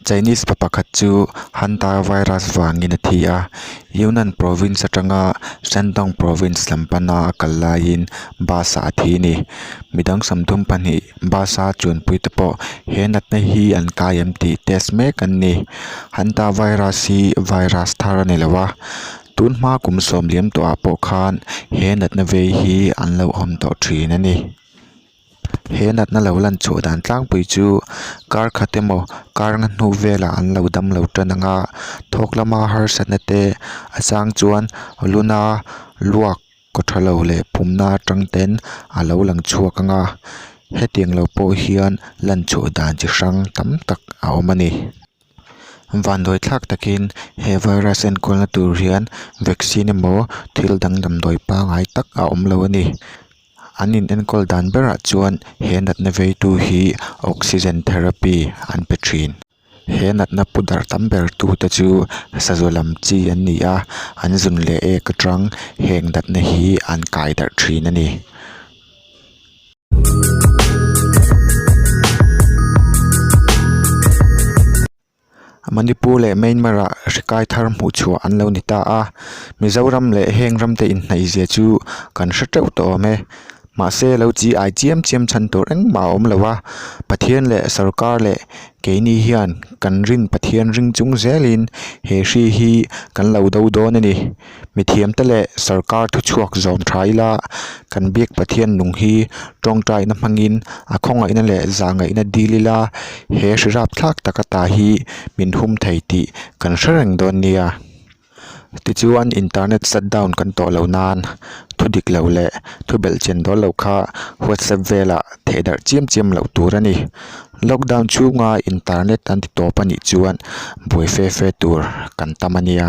Chinese pa pakhat chu hunter virus vangin a thi a, Yunnan province atanga Shandong province lam pana a kal laiin bus ah a thi a ni. Midang sawmdum pahnih bus a chuanpui te pawh he natna hi an kai em tih test mek an ni. Hunter virus hi virus thar a ni lo va. Tun hmaa kum sawm liam tawh ah pawh khan he natna vei hi an lo awm tawh thin a ni. He natna lo lan chhuah dan tlangpui chu kar khat emaw kar na hnu velah an lo dam lo tan ang a, thawk lama harsatna te a chang chuan luna luak kaw tha lo leh pumna atang ten a lo lang chhuak ang a, hetiang lo pawh hian lan chhuah dan chi hrang tam tak a awm a ni. Vandawi thlak takin he virus enkualna tur hian vaccine emaw thil dang damdawi pangngai tak a awm lo a ni. An in enkawl dan berah chuan he natna veitu hi oxygen therapy an pe thin. He natna pu darh tam ber tu te chu sazaw lam chi an ni a, an zun leh ek aṭang heng natna hi an kai darh thin a ni. Manipur leh Myanmar ah hrikai thar hmuh chhuah an lo ni ta a, Mizoram leh heng ram te inhnaihzia chu kan hre teuh ta awm e. Mahse lo chi ai chiam chiam chhan tur engmah a awm lo a, Pathian leh sorkar leh keini hian kan rin Pathian ring chung zelin he hri hi kan lo do dawn a ni. mithiam te leh sarkar thu chhuak zawm tha ila kan biak Pathian nung hi tawngtaina hmangin a khawngaihna leh zahngaihna dil ila he hrirap thlak tak ata hi min hum thei tih kan hre reng dawn nia. Tichuan internet shutdown kan tawh loh nan thu dik loh leh thu belh chen dawn loh kha WhatsApp velah theh darh chiam chiam loh tur a ni. Lockdown chhunga internet an ti tawp a nih chuan buai fe fe tur kan tam a nia.